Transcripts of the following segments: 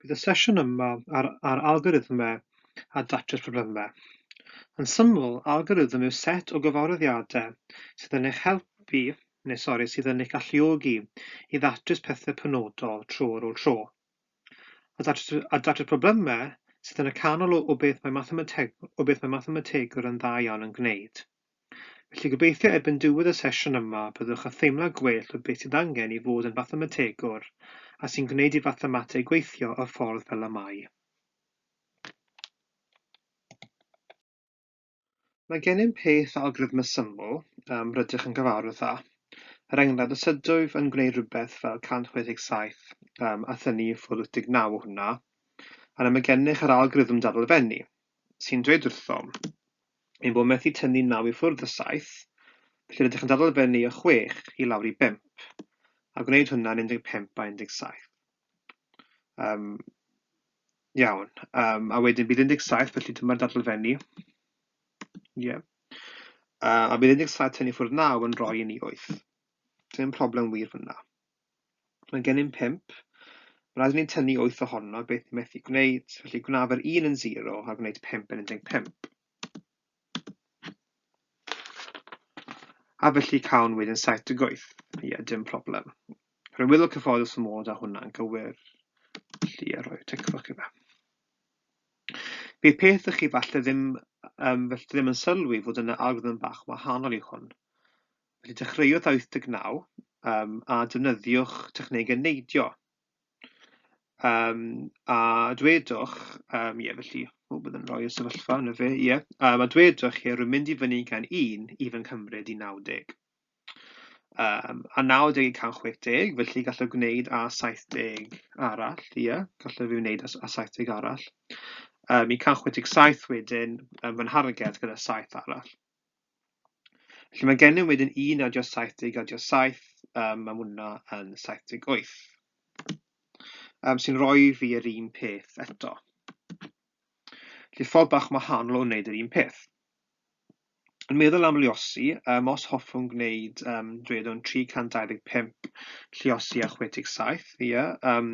Bydd y sesiwn yma ar, ar algorithmau a datrys problemau. Yn syml, algorithm yw set o gyfarwyddiadau sydd yn eich helpu, neu sori, sydd yn eich galluogi i ddatrys pethau penodol tro ar ôl tro. A datrys, a datrys problemau sydd yn y canol o, o beth mae mathemateg, o beth mae mathemategwr yn dda iawn yn gwneud. Felly gobeithio erbyn diwedd y sesiwn yma byddwch yn theimlo gwell o beth sydd angen i fod yn fathemategwr a sy'n gwneud i fathemateg weithio y ffordd fel y mae. Mae gennym peth o algorithm syml, um, rydych yn gyfarwydd â. Er enghraifft, os ydwyf yn gwneud rhywbeth fel 167, um, a thynnu ffwrdd 89 o hwnna, yna mae gennych yr algorithm dadlfennu, sy'n dweud wrthom, ein bod methu tynnu naw i ffwrdd o saith, felly rydych yn dadl fyny o chwech i lawr i bump, a gwneud hwnna yn 15 a 17. Um, iawn, um, a wedyn bydd 17, felly dyma'r dadl fyny. Yeah. Uh, a bydd 17 tynnu ffwrdd naw yn rhoi i ni 8. Dim problem wir fyna. Mae gennym pump. Rydyn ni'n tynnu wyth ohono, beth ni methu gwneud, felly gwnaf yr un yn zero a gwneud pump yn 15. A felly cawn wedyn saith deg wyth. Ie, dim problem. Rwy'n meddwl cyfforddus fy mod â hwnna'n gywir. Felly, a rhoi ticfwch i fe. Bydd peth ych chi falle ddim, um, felly ddim yn sylwi fod yna algorithm bach wahanol i hwn. Felly dechreuwch â 89 um, a defnyddiwch technegau neidio. Um, a dwedwch, um, ie, felly, o, byddwn rhoi y sefyllfa yn y fe, ie. Yeah. Um, a dwedwch chi, rwy'n mynd i fyny gan 1 i fy nghymryd i 90. Um, a 90 i 160, felly gallaf gwneud a 70 arall, ie, yeah. gallaf fi wneud a, a 70 arall. Um, I 167 wedyn, um, fy nharged gyda 7 arall. Felly mae gennym wedyn 1 adio 7 deg adio 7, um, mae hwnna yn 78. Um, sy'n rhoi fi yr un peth eto. Felly ffordd bach wahanol o wneud yr un peth. Yn meddwl am liosi, um, os hoffwn gwneud, um, dwedwn 325 lliosi a 67, ie, yeah, um,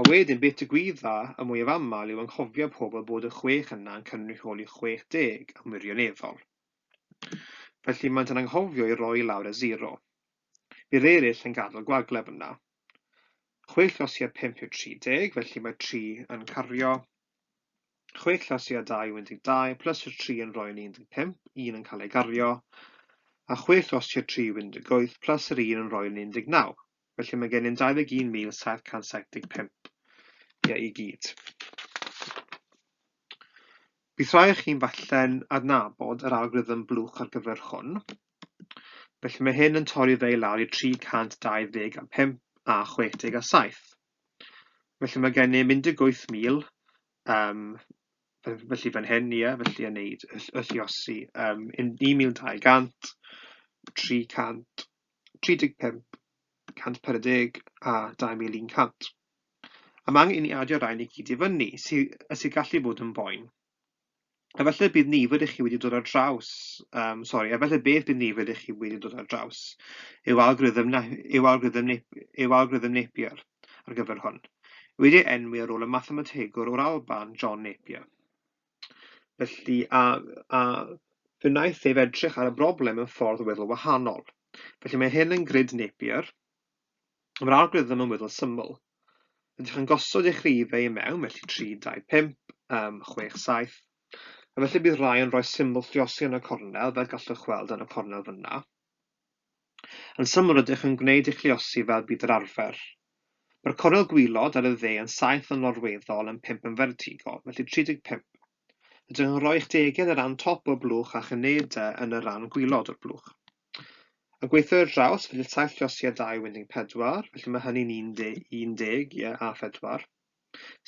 A wedyn beth digwydda y mwyaf aml yw anghofio pobl bod y chwech yna yn cynrychioli chwech deg yn wirioneddol. Felly maent yn anghofio i roi i lawr y sero. Bydd eraill yn gadael gwagleb yna. Chwe llosi ar pump yw 30, felly mae tri yn cario. Chwe llosi ar dau yw 12, plus y tri yn rhoi yn 15, un yn cael ei gario. A chwe llosi ar tri yw 18, plus yr un yn rhoi yn 19. Felly mae gennym 21,775 ie i gyd. Bydd rhai o chi'n falle'n adnabod yr algorithm blwch ar gyfer hwn. Felly mae hyn yn torri fe i lawr i 325 a 67. Felly mae gennym 18,000 um, felly fan hyn, ie, felly yn neud y lliosi um, 1,200, 300, 35, 140 a 2100. A mae angen i ni adio rhain i gyd i fyny, sy, y sy'n gallu bod yn boen. Efallai bydd nifer i chi wedi dod ar draws, um, sori, efallai beth bydd nifer i chi wedi dod ar draws yw algorithm, na, yw algorithm, nep, yw algorithm Napier ar gyfer hwn. Wedi enwi ar ôl y mathemategwr o'r Alban, John Napier. Felly, a, a fe wnaeth ef edrych ar y broblem yn ffordd weddol wahanol. Felly mae hyn yn grid Napier, mae'r algorithm yn weddol syml. Ydych yn gosod eich rhifau i mewn, felly 3, 2, 5, um, 6, 7. A felly bydd rhai yn rhoi symbol lliosi yn y cornel, fel gallwch weld yn y cornel fyna. Yn syml rydych yn gwneud eich lluosi fel bydd yr arfer. Mae'r cornel gwaelod ar y dde yn saith yn lorweddol yn pump yn fertigol, felly 35. Rydych yn rhoi eich degedd ar ran top o'r blwch a'ch unede yn y ran gwaelod o'r blwch. Yn gweithio i'r draws, felly saith lluosi a dau winding pedwar, felly mae hynny'n 11, ie, a phedwar.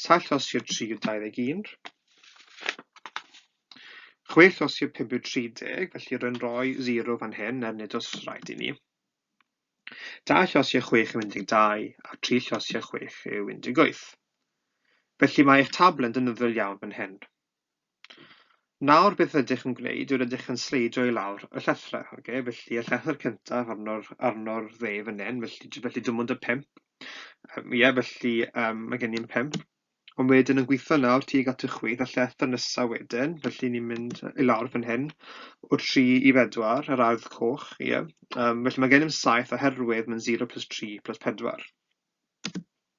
Saith lloss i'r tri yw 21. Chwe lloss i'r pum yw 30, felly rwy'n rhoi 0 fan hyn er nid os rhaid i ni. Dau lloss i'r chwech yw 12, a tri lloss i'r chwech yw 18. Felly mae eich tabl yn defnyddiol iawn fan hyn. Nawr beth rydych yn gwneud yw rydych yn sleidio i lawr y llethrau, ok, felly y llethr cyntaf arno'r, arno'r dde fan hyn, felly, felly dim ond y pimp, um, ie, felly um, mae gen i'n pimp, ond wedyn yn gweithio nawr tuag at y chwith, y llethr nesaf wedyn, felly ni'n mynd i lawr fan hyn, o 3 i 4, yr ardd coch, ie, um, felly mae gen i'n 7 oherwydd mae'n 0 plus 3 plus 4.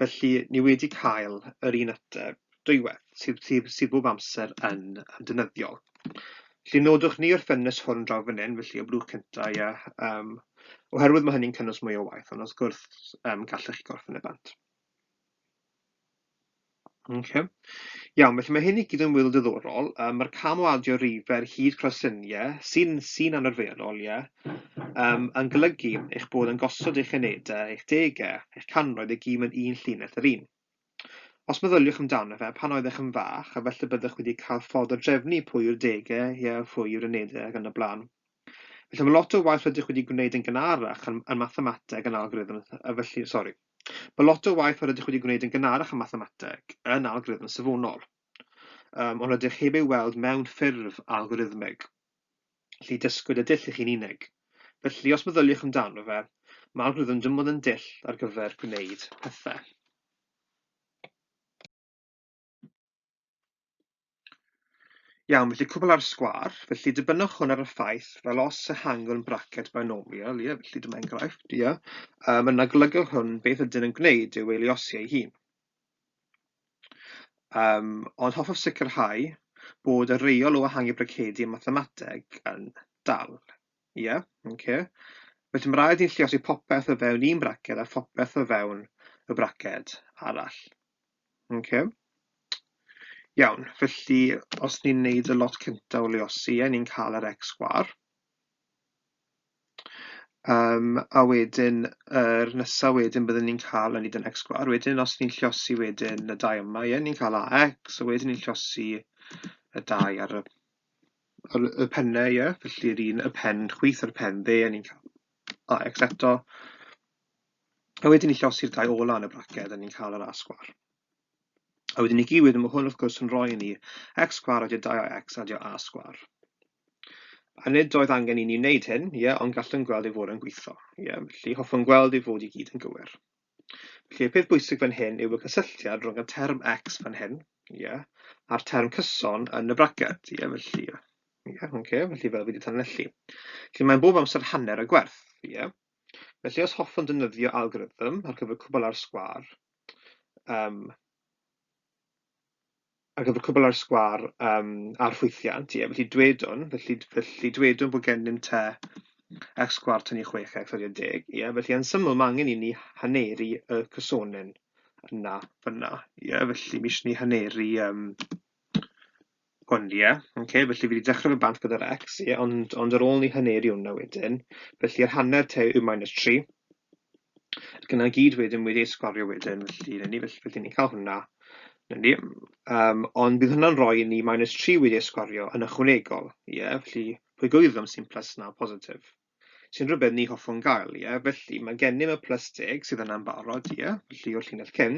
Felly, ni wedi cael yr un ateb dwywaith, sydd sydd sydd bob amser yn yn defnyddiol. Felly nodwch ni o'r ffenest hwn draw fan hyn, felly y blwch cyntaf, ia, um, oherwydd mae hynny'n cynnwys mwy o waith, ond wrth gwrs um, gallech chi gorffen y bant. Okay. Iawn, felly mae hyn i gyd yn wyl diddorol. Um, Mae'r cam o adio rifer hyd crosyniau sy'n sy anarferol, ie, yeah, um, yn golygu eich bod yn gosod eich unedau, eich degau, eich canroedd i gyd mewn un llinell yr un. Os meddyliwch amdano fe, pan oeddech yn fach, a felly byddwch wedi cael ffordd o drefnu pwy yw'r degau, ie, yeah, pwy yw'r unedau ac yn y blaen. Felly mae lot o waith rydych wedi gwneud yn gynharach yn, yn mathemateg yn algorithm, a felly, sori, Mae lot o waith yr ydych wedi gwneud yn gynharach ym mathemateg yn algorithm safonol, um, ond rydych heb ei weld mewn ffurf algorithmig. Lli dysgwyd y dull i chi'n unig. Felly, os meddyliwch amdano fe, mae algorithm dymod yn dull ar gyfer gwneud pethau. Iawn, felly cwbl ar sgwâr, felly dibynnwch hwn ar y ffaith fel os ehangwn yn braced binomial, ie, felly dyma enghraifft, ie, um, yna golygu hwn beth ydyn yn gwneud yw ei liosi ei hun. Um, ond hoffaf sicrhau bod y reol o ehangu bracedi yn mathemateg yn dal. Ie, yeah, oce. Okay. Felly mae rhaid i'n lliosi popeth o fewn un braced a phopeth o fewn y braced arall. Oce. Iawn, felly os ni'n neud y lot cynta o leosi, a ni'n cael yr X sgwar, um, a wedyn yr er nesa wedyn byddwn ni'n cael yn yn X sgwar, wedyn os ni'n llosi wedyn y dau yma, ie, ni'n cael AX, a wedyn ni'n llosi y dau ar y, ar y pennau, ie, felly'r un y pen chwith a'r pen dde, a ni'n cael AX eto, A wedyn ni llosi'r dau ola yn y braced a ni'n cael yr a sgwar. A wedyn ni giwyd, mae hwn wrth gwrs yn rhoi ni x sgwar adio 2ax adio a sgwar. A nid oedd angen i ni wneud hyn, ie, yeah, ond gallwn gweld ei fod yn gweithio. Ie, yeah, felly hoffwn gweld ei fod i gyd yn gywir. Felly y peth bwysig fan hyn yw y cysylltiad rhwng y term x fan hyn, ie, yeah, a'r term cyson yn y braced, ie, yeah, felly, ie, yeah, okay, felly fel wedi tanelli. Felly mae'n bob amser hanner y gwerth, ie. Yeah. Felly os hoffwn defnyddio algorithm ar gyfer cwbl ar sgwâr, um, ar gyfer cwbl ar sgwâr um, ar ffwythiant, ie, felly dwedwn, felly, felly dwedwn bod gennym te x sgwar tynnu 6x ar 10, ie, felly yn syml mae angen i ni haneru y cysonen yna fyna, ie, felly mis ni haneru um, Ond ie, ocê, felly fi wedi dechrau fy bant gyda'r X, ie, ond, ond ar ôl ni haneri hwnna wedyn, felly yr hanner te yw minus 3, ac yna gyd wedyn wedi ei sgorio wedyn, felly na ni, felly, felly ni'n cael hwnna, na ni, um, ond bydd hwnna'n rhoi ni minus 3 wedi ei sgorio yn ychwanegol, ie, felly pwy gwybod am sy'n plus na positif. sy'n rhywbeth ni hoffwn gael, ie? Felly, mae gennym y plus deg sydd yna'n barod, ie? Felly, o'r llinell cyn,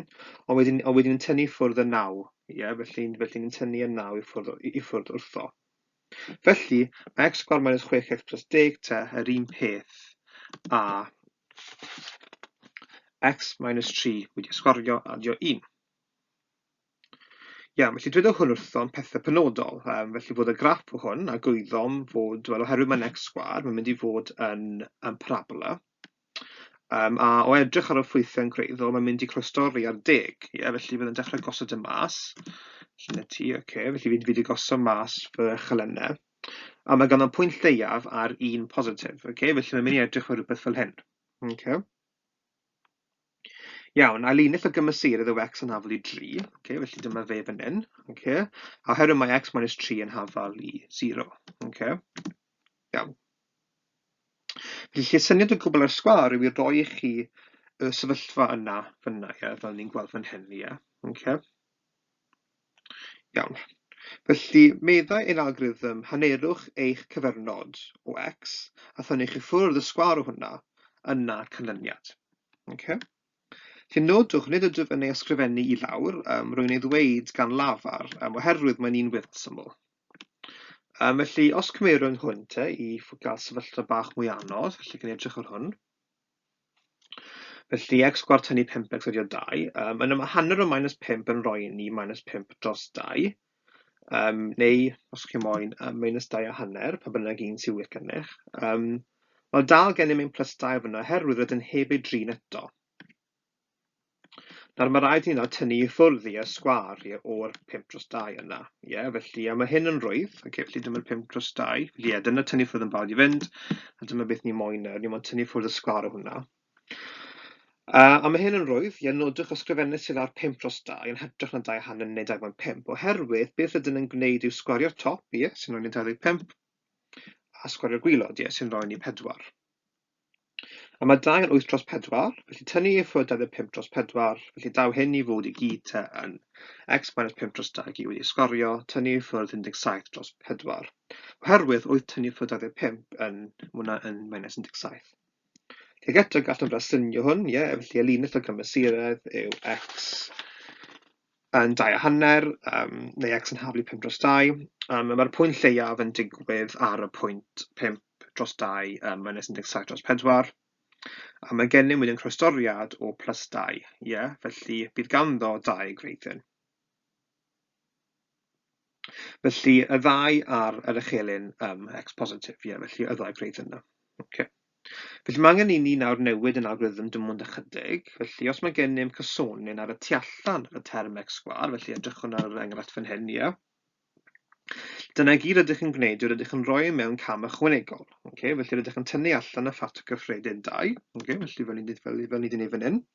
ond wedyn, ond wedyn yn tynnu ffwrdd y naw, ie? Felly, felly ni'n tynnu y naw i ffwrdd, i, i ffwrdd wrtho. Felly, mae x sgwar minus 6x plus 10 te yr un peth a x minus 3 wedi sgorio adio 1. Iawn, felly dwedodd hwn wrthom pethe penodol, um, felly fod y graff o hwn, a gwyddom fod, wel, oherwydd mae'n x sgwar, mae'n mynd i fod yn, yn parabola, um, a o edrych ar y ffwythiau'n gwreiddiol, mae'n mynd i croesdori ar deg, ie, yeah, felly byddai'n dechrau gosod y mas, lle ti, oce, okay, felly fi'n fi wedi gosod mas fy chalennau, a mae ganddo'n pwynt lleiaf ar un positif, oce, okay, felly mae'n mynd i edrych ar rhywbeth fel hyn, oce. Okay. Iawn, a linell o gymesurydd yw x yn hafal i 3, okay, felly dyma fe fan hyn, okay. a oherwydd mae x minus 3 yn hafal i 0. Okay. Iawn. Felly, lle syniad o gwbl ar sgwar yw i roi i chi y sefyllfa yna fyna, ie, fel ni'n gweld fan hyn, ie. Okay. Iawn, felly meddai ein algorithm hanerwch eich cyfernod o X a thynnwch i ffwrdd y sgwâr o hwnna, yna canlyniad. Ok? Felly nodwch, nid ydw yn ei ysgrifennu i lawr, um, rwy'n ei ddweud gan lafar, um, oherwydd mae'n un wyrth syml. Um, felly, os cymeirwn hwn te i gael sefyllfa bach mwy anodd, felly gan edrych ar hwn. Felly, x sgwâr tynnu 5x ydy o 2. Um, yna mae hanner o minus 5 yn rhoi ni minus 5 dros 2. Um, neu, os chi moyn, um, minus 2 a hanner, pa bynnag un sy'n wir gennych. Um, mae dal gennym ein plus 2 fyna, herwydd rydyn heb ei drin eto. Nawr mae'n rhaid i hynna tynnu i ffwrdd i y sgwâr i o'r 5 dros 2 yna. Ie, yeah, felly a mae hyn yn rwydd. Ac okay, felly dyma'r 5 dros 2. Felly ie, yeah, dyna tynnu ffwrdd yn barod i fynd. A dyma beth ni moyn nawr. Ni moyn tynnu ffwrdd y sgwâr o hwnna. Uh, a mae hyn yn rwydd, ie, nodwch ysgrifennu sydd ar 5 dros 2 yn hytrach na 2 hanner neu 2.5, oherwydd beth ydyn yn gwneud yw sgwario'r top, ie, sy'n rhoi ni 25, a sgwario'r gwylod, ie, sy'n rhoi ni 4. A mae dau yn wyth dros pedwar, felly tynnu i ffwrdd 25 dros pedwar, felly daw hyn i fod i gyd te yn x minus 5 dros 2 i wedi sgorio, tynnu i ffwrdd 17 dros pedwar. Oherwydd wyth tynnu i ffwrdd 25 yn, mwna yn minus 17. Felly ac eto gallwn braslunio hwn, ie, felly y linell o gymysuredd yw x yn dau a hanner yym neu x yn haflu pump dros dau yym a ma'r pwynt lleiaf yn digwydd ar y pwynt pump dros dau yym minus un deg saith dros pedwar a mae gennym wedyn croestoriad o plus dau ie felly bydd ganddo dau gwreiddyn. Felly y ddau ar yr echelin um, x positif, ie, yeah, felly y ddau gwneud yna. Okay. Felly mae angen i ni nawr newid yn algorithm dim ond ychydig. Felly os mae gennym cysonyn ar y tu allan y term x sgwar, felly edrychwn ar yr enghraifft fan hyn, ie. Yeah. Dyna i gyd rydych yn gwneud yw rydych yn rhoi mewn cam ychwanegol. Okay? Felly rydych yn tynnu allan y ffactor cyffredin 2. Okay? Felly fel ni wedi gwneud fan hyn.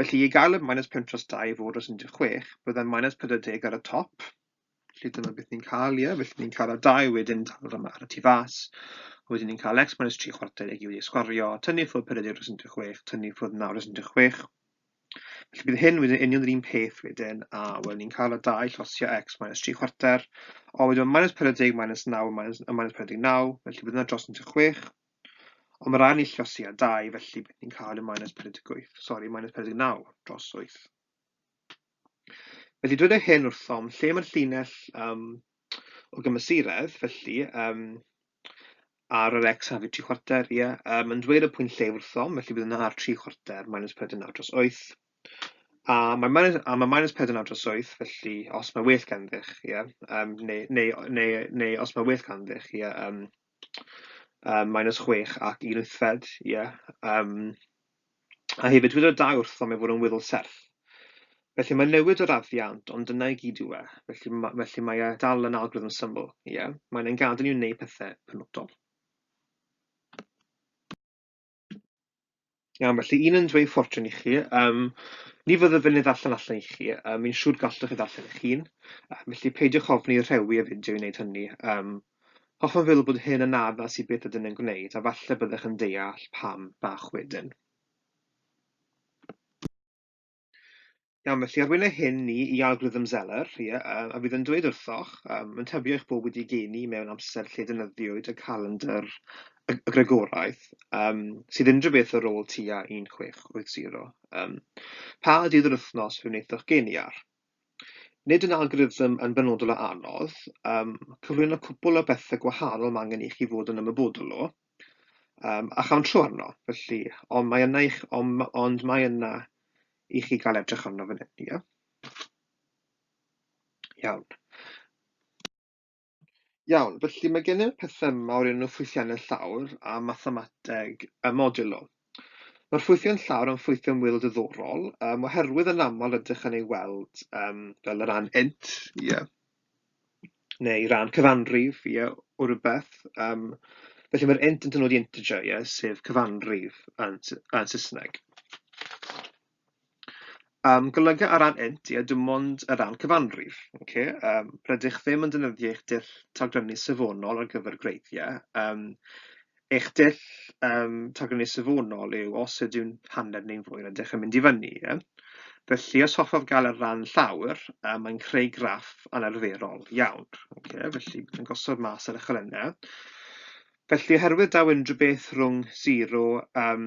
Felly, i gael y minus pum tros dau i fod dros 16, byddai minus 40 ar y top. Felly dyna beth ni'n cael, ie. Felly ni'n cael y dau wedyn tal yma ar y tu fas. Wedyn ni'n cael x minus 3 chwarter i gyd i sgwario, tynnu ffwrdd 40 dros 16, tynnu ffwrdd 9 dros 16. Felly bydd hyn wedyn union yr un peth wedyn, a wel, ni'n cael y dau llosio x minus 3 chwarter, o wedyn minus 40 minus 9 minus, minus 49, felly bydd yna dros 16, Ond mae rhai yn ill dros tua 2, felly bydd ni'n cael y minus 48, sori, minus 49 dros 8. Felly dweud y hyn wrthom, lle mae'r llinell um, o gymesuredd, felly um, ar yr x hafyd 3 chwarter, ie, yeah, um, yn dweud y pwynt lle wrthom, felly bydd yna ar 3 chwarter minus 49 dros 8. A mae minus, a mae minus 49 dros 8, felly os mae well ganddi'ch, ie, yeah, um, neu, neu, neu, neu os mae well ganddi'ch, ie, yeah, um, Yym, minus chwech ac un wythfed, ie. Yym, a hefyd, dywed y dau wrtho mi fod yn wyddol serth. Felly, mae'n newid yr addiant, ond dyna i gyd yw e. Felly, ma- felly mae e dal yn algorithm syml, ie. Mae'n ein gadael ni wneud pethau penodol. Iawn, felly un yn dweud ffortiwn i chi. Um, ni fyddaf yn ei ddarllen allan i chi. Um, Mi'n siŵr gallwch chi ddarllen eich hun. Um, felly peidiwch ofni rhewi y fideo i wneud hynny. Um, hoffwn feddwl bod hyn yn addas i beth ydyn yn gwneud, a falle byddech yn deall pam bach wedyn. Iawn, felly arwynau hyn ni i algorithm Zeller, ie, um, a fydd yn dweud wrthoch, um, yn tybio eich bod wedi geni mewn amser lle dynyddiwyd y calendr y, y Gregoraeth, um, sydd unrhyw beth ar ôl tua 1680. Um, pa dydd yr wythnos fe wnaethoch geni ar? Nid yn algorithm yn benodol a anodd, um, cyflwyno cwpl o bethau gwahanol mae angen i chi fod yn ymwybodol o, Yym, a chawn tro arno, felly. Ond mae yna i ch-... ond ma- ond mae yna i chi gael edrych arno fan hyn, ie? Iawn. Iawn, felly mae gennym pethau yma o'r enw ffwythiannau llawr a mathemateg y modiwl. Mae'r ffwythiau'n llawn am ffwythiau'n wyl diddorol, um, oherwydd yn aml ydych yn ei weld um, fel y rhan int, ie, yeah. neu rhan cyfanrif, ie, yeah, o rhywbeth. Um, felly mae'r int yn dynodi integer, ie, yeah, sef cyfanrif yn, yn Saesneg. Yym, golyga ar ran int, ie, dim ond ar ran cyfanrif. Ocê, yym, rydych ddim yn defnyddio eich dull tagrynu safonol ar gyfer gwreiddiau. Yym, eich dull yym, tagrynu safonol yw os ydyw'n hanner neu'n fwy, rydych yn mynd i fyny, ie? Felly, os hoffaf gael ar ran llawr, um, mae'n creu graff anarferol iawn. Okay, felly, yn gosod mas ar y cholynau. Felly, oherwydd daw unrhyw beth rhwng 0 um,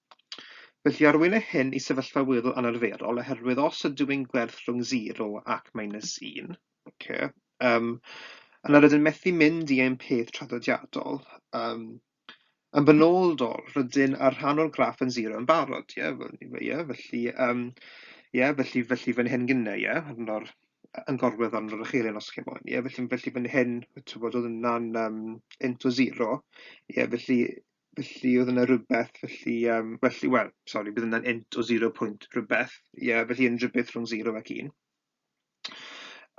Felly arwynir hyn i sefyllfa weddol anarferol oherwydd os ydw i'n gwerth rhwng 0 ac minus 1, okay, um, yna rydyn methu mynd i ein peth traddodiadol. Um, yn benodol, rydyn ar rhan o'r graff yn 0 yn barod, ie, yeah, felly, um, yeah, felly, felly fan hyn gynnau, ie, yeah, yn o'r yn gorwedd arno ar y chelyn os chi moyn. Ie, felly, felly fan hyn, ti'n bod, oedd yna'n um, into zero. Ie, felly, Felly oedd yna rywbeth, felly yym felly wel sori bydd yna'n int o zero pwynt rywbeth, ie felly unrhyw beth rhwng zero ac un.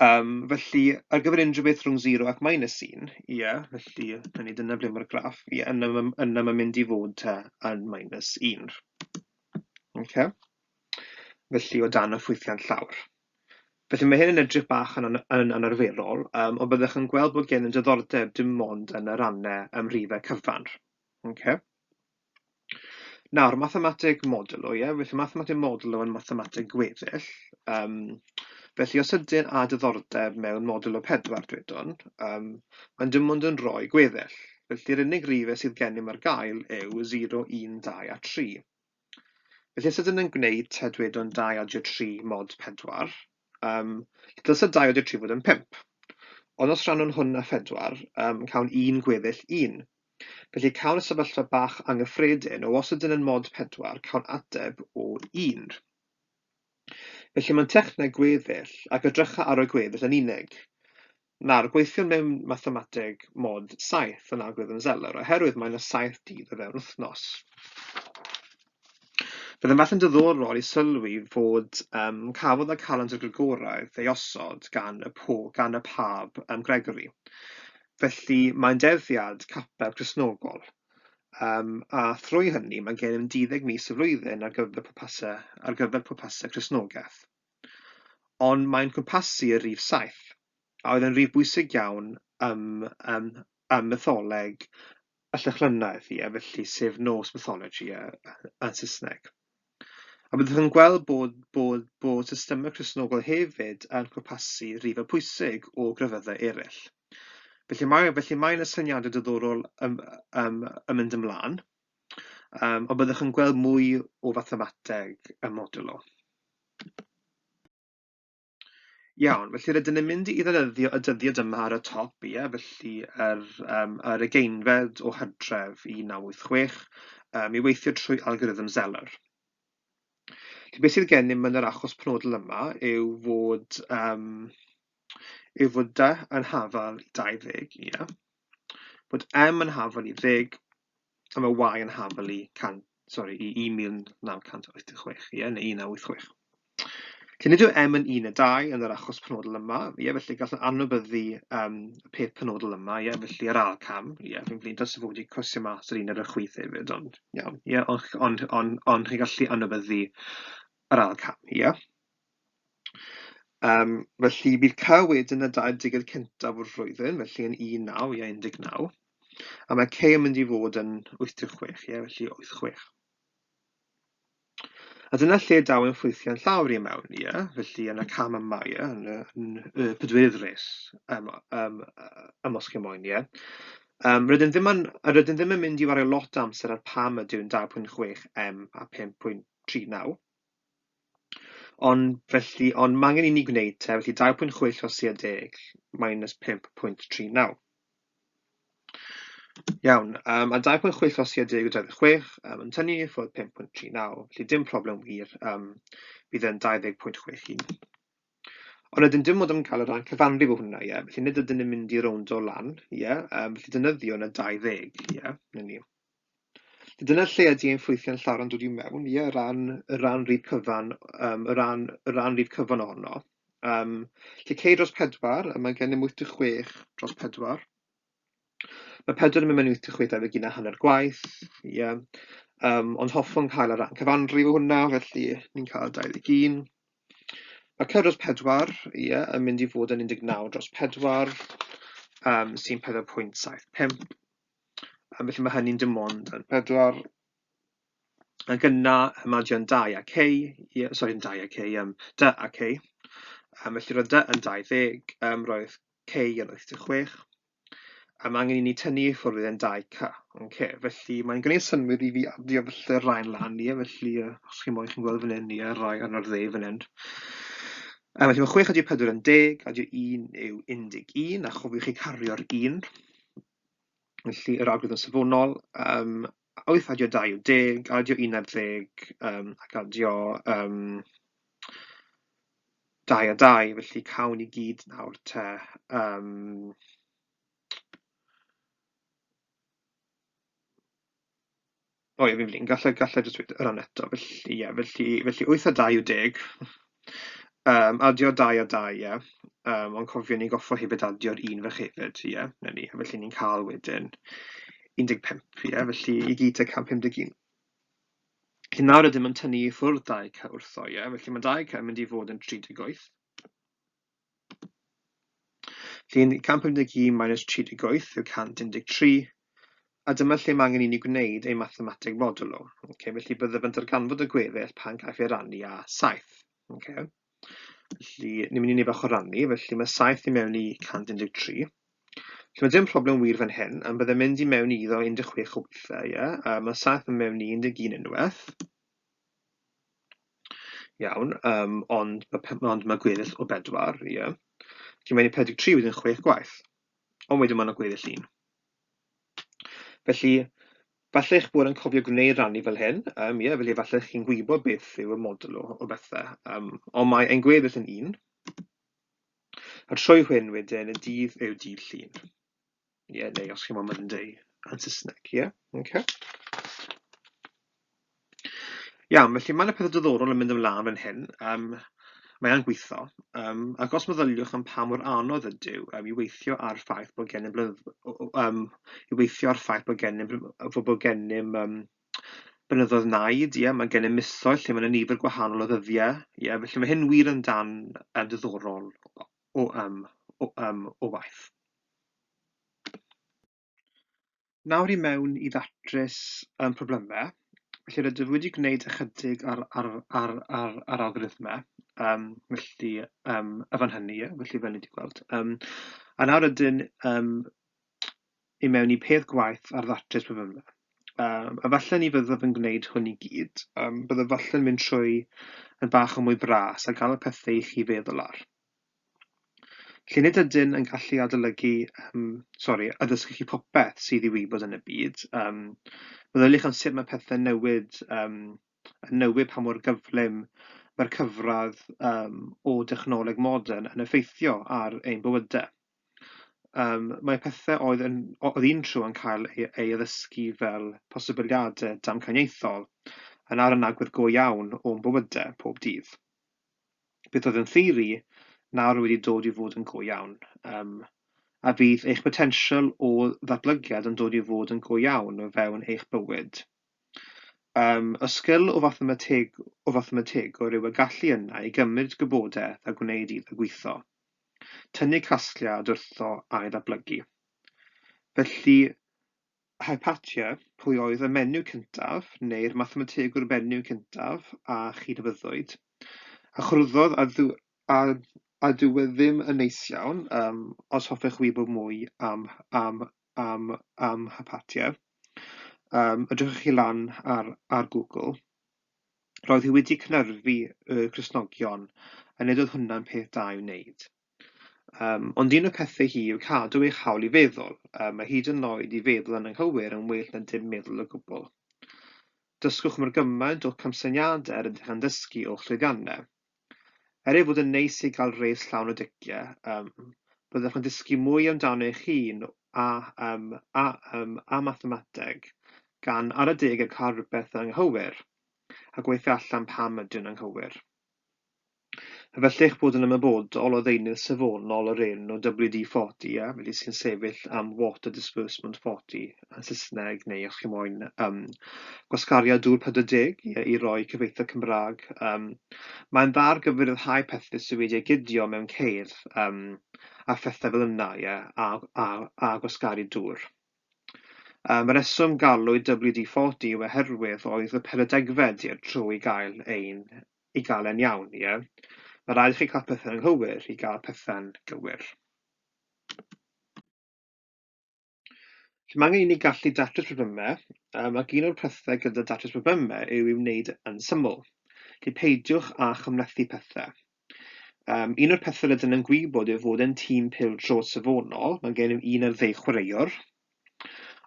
Yym felly ar gyfer unrhyw beth rhwng zero ac minus un, ie felly hynny yw dyna ble mae'r graff, ie yna ma' yna ma'n mynd i fod te yn minus un. Ocê? Felly o dan y ffwythiant llawr. Felly mae hyn yn edrych bach yn an- yn anarferol, yym, ond byddwch yn gweld bod gennym diddordeb dim ond yn y rannau ym rhifau cyfan. Okay. Nawr, mathemateg modulo, ie? Yeah? Felly mathemateg modulo yn mathemateg gweddill. Um, felly os ydyn a diddordeb mewn modulo pedwar, dwedwn, um, mae'n dim ond yn rhoi gweddill. Felly'r unig rifau sydd gennym ar gael yw 0, 1, 2 a 3. Felly os ydyn ni'n gwneud te dwedwn 23 mod 4, yym dylse 23 fod yn 5. Ond os rhannwn hwn â 4, yym cawn un gweddill 1. Felly cawn y sefyllfa bach anghyffredin o os ydyn yn mod 4, cawn ateb o 1. Felly mae'n techneg gweddill, ac edrycha ar y gweddill yn unig. Nawr, gweithiwn mewn mathemateg mod 7 yn algorithm Zeller, oherwydd mae yna 7 dydd o fewn wythnos. Bydd yn fath yn dyddorol i sylwi fod um, cafodd y calendr Gregoraidd ei osod gan y, po, gan y pab um, Gregory. Felly mae'n derddiad capel Cresnogol. Um, a thrwy hynny mae gennym 10 mis y flwyddyn ar gyfer pwrpasau, ar gyfer pwrpasau Cresnogaeth. ond mae'n cwmpasu y rif saith, a oedd yn rif bwysig iawn ym ym ym mytholeg y Llychlynaidd, ie, felly sef Norse mythology yy yn Saesneg. A byddwch yn gweld bod bod bod systemau Cristnogol hefyd yn cwmpasu rifau pwysig o grefyddau eraill. Felly mae felly mae yna syniadau diddorol ym ym yn mynd ymlaen. Yym ond byddwch yn gweld mwy o fathemateg ym Modulo. Iawn, felly rydyn ni'n mynd i ddefnyddio y dyddiad yma ar y top, ie, felly yr yym yr ugeinfed o Hydref 1986 yym i weithio trwy algorithm Zeller. Felly beth sydd gennym yn yr achos penodol yma yw fod yym yw fod dy yn hafal 20, ie. Bod M yn hafal i ddeg, a mae Y yn hafal i 100, sorry, i 1986, ie, neu 1986. Felly nid yw M yn 1 a 2 yn yr achos penodol yma, ie, felly gallwn anwybyddu um, y peth penodol yma, ie, felly yr ail cam, ie, fi'n flin dros y fod i cwrsio mas yr un ar y chwith hefyd, ond iawn, ie, ond on, on, on, on, chi gallu anwybyddu yr ail cam, ie. Yym, felly, bydd Cae wedyn yn y 20 cyntaf o'r flwyddyn, felly yn 19, ie, 19. A mae Cae yn mynd i fod yn 86, ie, felly 86. A dyna lle daw yn ffwythiau'n llawr i mewn, ie, yeah? felly yn y cam yma, ie, yeah? yn, yn, yn y pedwerydd res um, um, um, os chi moyn, ie. Yeah? Um, rydyn, ddim yn, rydyn ddim yn mynd i wario lot amser ar pam ydyw yn 2.6 M a 5.39, Ond felly, ond mae angen i ni gwneud te, felly 2.6 llosiau deg, minus 5.39. Iawn, um, a 2.6 llosiau deg o 26, um, yn tynnu ffwrdd 5.39, felly dim problem wir, um, bydd yn 20.61. Ond ydyn dim ond yn cael y rhan cyfanrif o hwnna, ie, yeah. felly nid ydyn yn mynd i rownd o lan, ie, yeah. um, felly dynyddio yna 20, ie, yeah. ni. Dyna lle ydy ein ffwythiau'n llawer yn dod i mewn, ie, o ran y ran rif cyfan, um, y ran, y ran rif cyfan ohono. Um, lle cei dros pedwar, a mae gennym 86 dros pedwar. Mae pedwar yn mynd mewn 86 debyg un a hanner gwaith, ie. Yeah. Um, ond hoffwn cael y ran cyfanrif o hwnna, felly ni'n cael 21. Mae cyr dros pedwar, ie, yeah, yn mynd i fod yn 19 dros pedwar, um, sy'n 4.75. A felly mae hynny'n dim ond yn pedwar. Ac yna, mae gen 2 a k, yeah, sori, yn 2 a k, um, dy a k. Um, felly roedd dy yn 20, um, roedd k yn 86. A mae angen i ni tynnu i ffwrdd yn 2 k. Okay. Felly mae'n gwneud synwyr i fi adio felly rhain lan i, e, felly uh, os chi'n moyn chi'n gweld fan hyn, ie, rai arno'r dde fan hyn. Um, felly mae 6 adio 4 yn 10, adio 1 yw 11, a chofiwch chi cario'r 1. Felly, yr algorithm safonol, yym, wyth adio dau yw deg, adio un ar ddeg, yym, ac adio yym, dau a dau, felly cawn i gyd nawr te yym, O ie, fi'n flin. Galla i galla i jyst weud y rhan eto. Felly ie, felly felly wyth a dau yw deg. Yym, adio dau a dau, ie. Yym, ond cofion ni goffo hefyd adio'r un fach hefyd, ie, 'na ni. Felly ni'n cael wedyn 15, ie, felly i gyd tua 151. Felly nawr rydym yn tynnu i ffwrdd 2k wrtho, ie, felly mae 2k yn mynd i fod yn 38. Llun 151 minus 38 yw 113, a dyma lle mae angen i ni gwneud ein mathemateg modulo. Okay, felly byddaf yn darganfod y gweddill pan gaiff ei rannu â 7. Okay. Felly, ni'n mynd i ni bach o rannu, felly mae 7 i mewn i 113. Felly mae dim problem wir fan hyn, am byddai'n mynd i mewn i iddo 16 o weithiau, ie? Yeah? Uh, mae 7 yn mewn i 11 unwaith. Iawn, yym ond ma' pe- ond ma' gweddill o bedwar, ie. Felly mae'n 43 wedyn chwech gwaith. Ond wedyn ma' 'na gweddill un. Felly, falle eich bod yn cofio gwneud rannu fel hyn, yym ie, felly falle chi'n gwybod beth yw y model o o bethe. Yym ond mae ein gweddill yn un. A trwy hyn wedyn y dydd yw dydd Llun. Ie, yeah, neu os chi'n meddwl mynd i yn Saesneg, ie? Yeah? Okay. Iawn, felly mae yna pethau diddorol yn mynd ymlaen fan hyn. Um, mae e'n gweithio. Um, ac os meddyliwch am pa mor anodd ydyw um, i weithio ar ffaith bod gennym blynydd, um, i weithio ar ffaith bod gennym, bod gennym um, blynyddoedd naid, ie, mae gennym misoedd lle mae'n nifer gwahanol o ddyddiau, ie, felly mae hyn wir yn dan um, diddorol o am, o am, o waith. Nawr i mewn i ddatrys um, problemau. Felly rydw wedi gwneud ychydig ar, ar, ar, ar, ar algoritmau, um, felly um, y fan hynny, felly fel ni wedi gweld. Um, a nawr ydyn um, i mewn i peth gwaith ar ddatrys problemau. Um, a falle ni fyddaf yn gwneud hwn i gyd, um, byddaf falle yn mynd trwy yn bach o mwy bras a gael y pethau i chi feddwl ar. Lle nid ydyn yn gallu adolygu, um, sori, addysgu chi popeth sydd i wybod yn y byd, um, byddaf eich am sut mae pethau newid, um, yn newid pa mor gyflym mae'r cyfradd um, o dechnoleg modern yn effeithio ar ein bywydau. Yym mae pethe oedd yn o- oedd un tro yn cael ei ei addysgu fel posibiliade damcaniaethol yn ar yn agwedd go iawn o'n bywyde pob dydd. Beth oedd yn theori nawr wedi dod i fod yn go iawn. Yym a fydd eich potensial o ddatblygiad yn dod i fod yn go iawn o fewn eich bywyd. Yym y sgil o fathemateg o fathemategwr yw y gallu yna i gymryd gwybodeth a gwneud iddo gwitho. tynnu casgliad wrtho a'i ddatblygu. Felly, Hypatia, pwy oedd y menyw cyntaf, neu'r mathemategwr menyw cyntaf a chi dyfyddwyd? A chrwyddodd a, ddu, a, a dyw e ddim yn neis iawn, um, os hoffech wybod mwy am, am, am, am Hypatia, um, ydrychwch chi lan ar, ar Google. Roedd hi wedi cynyrfu y Cristnogion, a nid oedd hwnna'n peth da i'w wneud. Um, ond un o pethau hi yw cadw eich hawl i feddwl, um, a hyd yn oed i feddwl yn anghywir yn well na dim meddwl o gwbl. Dysgwch mor gymaint o'ch camsyniadau yr ydych yn dysgu o'ch llwyddiannau. Er ei fod yn neis i gael res llawn o diciau, yym, byddwch yn dysgu mwy amdano eich hun a, yym, a, yym, a mathemateg, gan ar adeg y cael rhywbeth yn anghywir, a gweithio allan pam ydy'n anghywir. Efallai eich bod yn ymwybodol o ddeunydd safonol o'r enw WD-40, a felly sy'n sefyll am Water Disbursement 40, yn Saesneg, neu os chi moyn um, gwasgario dŵr 40 i, i roi cyfeitha Cymraeg. Um, mae'n dda ar gyfer rhyddhau pethau sydd wedi ei gydio mewn ceir um, a phethau fel yna, ie, a, a, a gwasgaru dŵr. Um, y reswm galwyd WD-40 yw oherwydd oedd y peredegfed i'r trw i gael ein i gael e'n iawn, ie. Mae rhaid i chi cael pethau'n anghywir i gael pethau'n gywir. Felly mae angen i ni gallu datrys problemau, um, ac un o'r pethau gyda datrys problemau yw i'w wneud yn syml. Felly peidiwch â chymlethu pethau. Um, un o'r pethau rydyn yn gwybod yw fod yn tîm pil trod safonol, mae gennym un ar ddeg chwaraewr,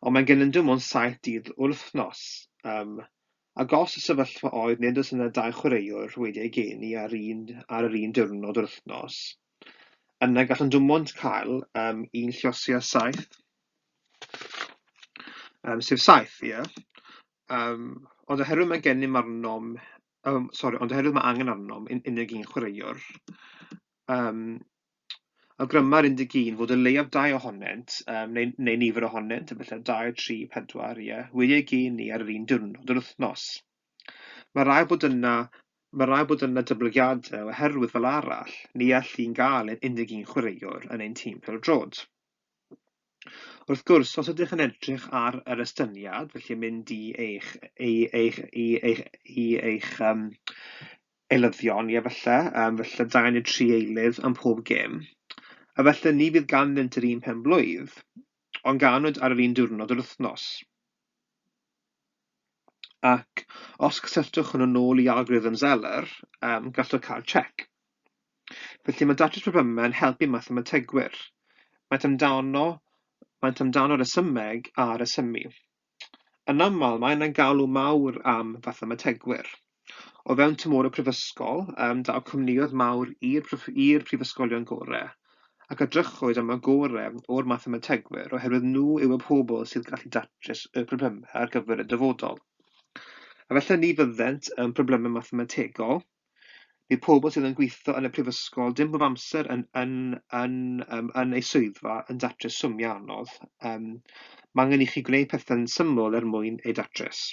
ond mae gennym dim ond saith dydd wrth wythnos. Um, ac os y sefyllfa oedd nid oes yna dau chwaraewr wedi ei geni ar, un, ar yr un diwrnod wrth wythnos, Yna gallwn dim ond cael um, un llosi a saith, um, sef saith, ie. Yeah. Um, ond oherwydd mae gennym arnom, um, sorry, ond oherwydd mae angen arnom yn unig un chwaraewr, um, awgryma'r 11 fod y leiaf dau ohonynt, um, neu, neu nifer ohonynt, efallai 2, 3, 4, ie, wedi ei gen ni ar yr un diwrnod yr wythnos. Mae rhaid bod yna, mae rhaid bod yna dyblygiadau oherwydd fel arall, ni all un gael ein 11 chwaraewr yn ein tîm pêl-droed. Wrth gwrs, os ydych yn edrych ar yr estyniad, felly mynd i eich, i eich, i eich, i eich um, eilyddion, ie, felly, um, felly 2 neu 3 eilydd am pob gêm, a felly ni fydd ganddynt yr un pen blwydd, ond ganwyd ar yr un diwrnod yr wythnos. ac os cysylltwch hwnnw nôl i algorithm Zeller, um, gallwch cael check. Felly mae datrys problemau yn helpu mathemategwyr. Maent amdano, maent amdano resymeg a resymu. Yn aml, mae yna galw mawr am fathemategwyr. O fewn tymor y Prifysgol, yym, daw cwmnïoedd mawr i'r prof- i'r prifysgolion gore, ac edrychwyd am y gore o'r mathemategwyr oherwydd nhw yw y pobl sydd gallu datrys y problemau ar gyfer y dyfodol. Efallai ni fyddent yn problemau mathemategol, bydd pobl sydd yn gweithio yn y prifysgol dim pob amser yn, yn, yn, yn, yn eu swyddfa yn datrys swmiau anodd. Um, mae angen i chi gwneud pethau'n syml er mwyn eu datrys.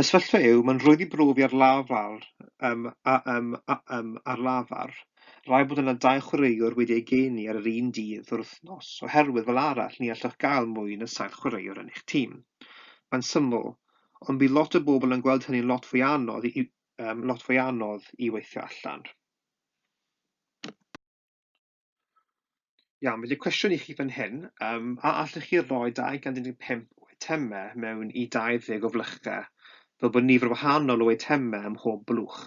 Y sefyllfa yw, mae'n rhwydd i brofi ar lafar, ym, a, ym, a, ym, ar lafar. Rhaid bod yna dau chwaraewr wedi eu geni ar yr un dydd o'r wythnos, oherwydd fel arall ni allwch gael mwy na saith chwaraewr yn eich tîm. Mae'n syml, ond bydd lot o bobl yn gweld hynny'n lot fwy anodd i, ym, lot fwy anodd i weithio allan. Iawn, felly cwestiwn i chi fan hyn, um, a allwch chi roi 215 o eitemau mewn i 20 o flychau, fel bod nifer wahanol o eitemau ym mhob blwch?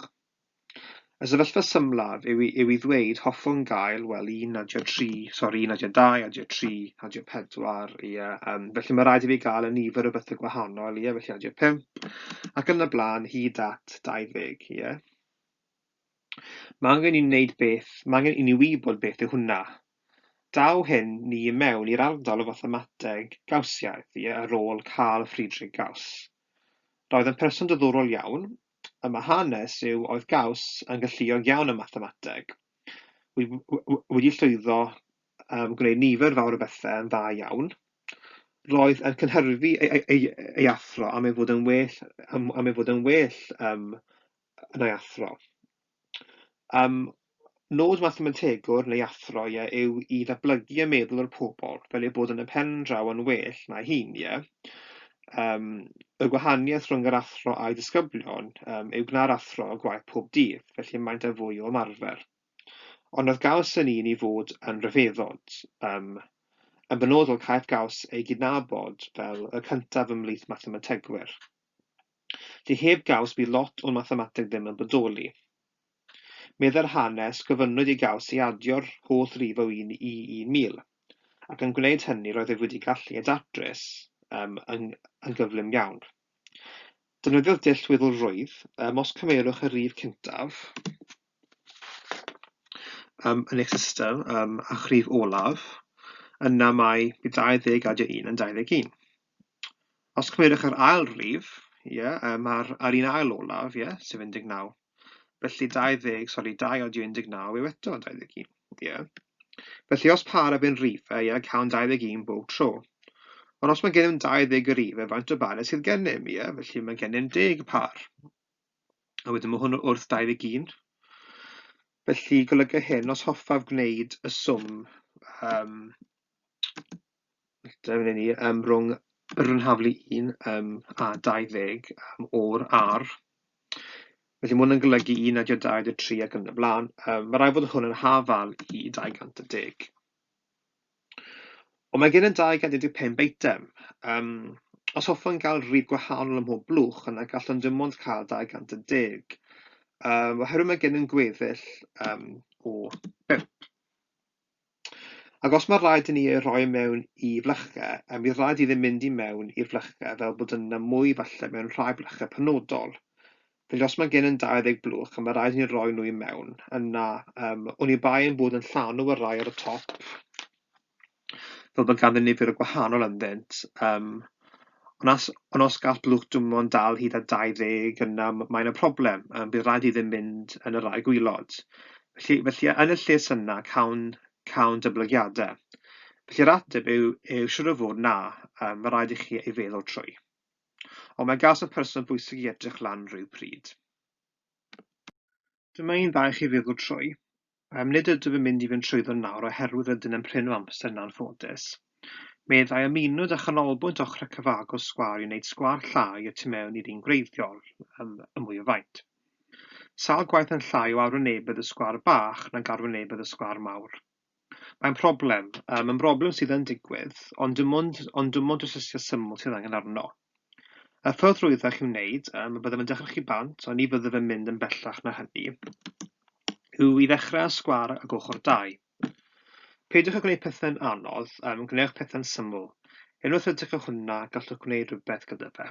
Y sefyllfa symlaf yw, yw i ddweud hoffwn gael, wel, un adio tri, sori, un adio dau, adio tri, adio pedwar, ia. Um, felly mae rhaid i fi gael y nifer o bethau gwahanol, ia, felly adio pump, ac yn y blaen hyd at 20, ia. Mae angen i ni wneud beth, mae angen i ni wybod beth yw hwnna. Daw hyn ni i mewn i'r ardal o fathemateg Gawsiaidd i ar ôl Carl Friedrich Gauss. Roedd yn person dyddorol iawn, y mae hanes yw oedd Gauss yn galluog iawn ym mathemateg, wedi llwyddo um, gwneud nifer fawr o bethau yn dda iawn, roedd yn cynhyrfu ei, ei, ei, ei athro am ei fod yn well, am, am ei fod yn well um, yn ei athro. Um, nod mathemategwr neu athro ie, yw i ddatblygu y meddwl o'r pobl fel ei bod yn y pen draw yn well na'i hun, ie? Um, y gwahaniaeth rhwng yr athro a'i ddisgyblion um, yw gwna'r athro y gwaith pob dydd, felly maent â fwy o ymarfer. Ond oedd gaws yn un i fod yn rhyfeddod, um, yn benodol caiff gaws ei gydnabod fel y cyntaf ymhlith mathemategwyr. Dy heb gaws bydd lot o'n mathemateg ddim yn bodoli. Meddai'r hanes, gofynnwyd i gaws i adio'r holl rif o un i 1000, ac yn gwneud hynny roedd ef wedi gallu ei datrys um, yn, yn gyflym iawn. Defnyddiodd dull weddol rwydd, um, os cyfeirwch y rif cyntaf um, yn eich system um, a'ch rif olaf, yna mae 21 yn 21. Os cymerwch yr ail rif, ie, yy, ma'r ar un ail olaf, ie, sef 19. Felly 20, sori, 2 odio 19 yw eto 21, ie. Felly os par a byn rifau, ie, cawn 21 bob tro. Ond os mae gennym 20 o rifau, faint o barau sydd gennym, ie? Felly mae gennym 10 par. A wedyn mae hwn wrth 21. Felly golyga hyn, os hoffaf gwneud y swm um, Dyna ni, yym rhwng yr haflu un yym a dau ddeg yym o'r ar. Felly ma' hwn yn golygu un naw deg dau deg tri ac yn y blaen. Yym ma' raid bod hwn yn hafal i dau gant a deg. Ond mae gen i dau gant dau deg pump eitem. Yym os hoffwn gael rhif gwahanol ym mhob blwch yna gallwn dim ond cael dau gant a deg yym oherwydd mae gennym gweddill yym o bump. Ac os mae'n rhaid i ni ei roi mewn i flychge, a bydd rhaid iddi mynd i mewn i flychge fel bod yna mwy falle mewn rhai blychge penodol. Felly os mae gen yn 20 blwch a mae rhaid i ni roi nhw i mewn, yna um, oni bai ein bod yn llanw y rai ar y top, fel bod ganddyn nifer o gwahanol ynddynt, um, Ond as, ond os gall blwch dwmon dal hyd at 20 yna mae yna problem, um, bydd rhaid iddyn mynd yn y rai gwylod. Felly, felly yn y lles yna, cawn, cawn dyblygiadau. Felly yr ateb yw, yw siwr o fod na, um, mae rhaid i chi ei feddwl trwy. Ond mae gas y person bwysig i edrych lan rhyw pryd. Dyma un dda i chi feddwl trwy. Yym, nid ydw i'n mynd i fynd trwyddo nawr oherwydd rydyn yn prin o amser yn anffodus. Meddai am unwyd a chanolbwynt ochr y cyfagos sgwâr i wneud sgwâr llai y tu mewn i'r un gwreiddiol, yym, y mwy o faint. Sawl gwaith yn llai o arwynebedd y sgwâr bach nag arwynebedd y sgwâr mawr. Mae'n problem, yym, yn broblem sydd yn digwydd, ond dim ond, ond dim ond trosysio syml sydd angen arno. Y ffordd rwyddach i'w wneud, yym, byddem yn dechrau chi bant, ond ni fyddaf yn mynd yn bellach na hynny, yw i ddechrau â sgwâr ag ochr dau. Peidiwch â gwneud pethau'n anodd, yym, gwnewch pethau'n syml. Unwaith rydych chi hwnna, gallwch gwneud rhywbeth gyda fe.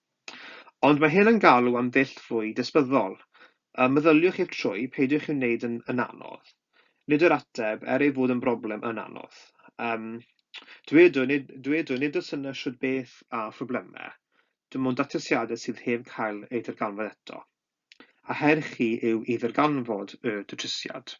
Ond mae hyn yn galw am ddull fwy dysbyddol. Ym meddyliwch i'r trwy, peidiwch i'w wneud yn yn anodd. Nid yw'r ateb, er ei fod yn broblem, yn anodd. Yym, dw i, nid, dw i, nid oes yna shwd beth â phroblemau. Dim ond datrysiadau sydd heb cael eu darganfod eto. A her chi yw i ddarganfod y datrysiad.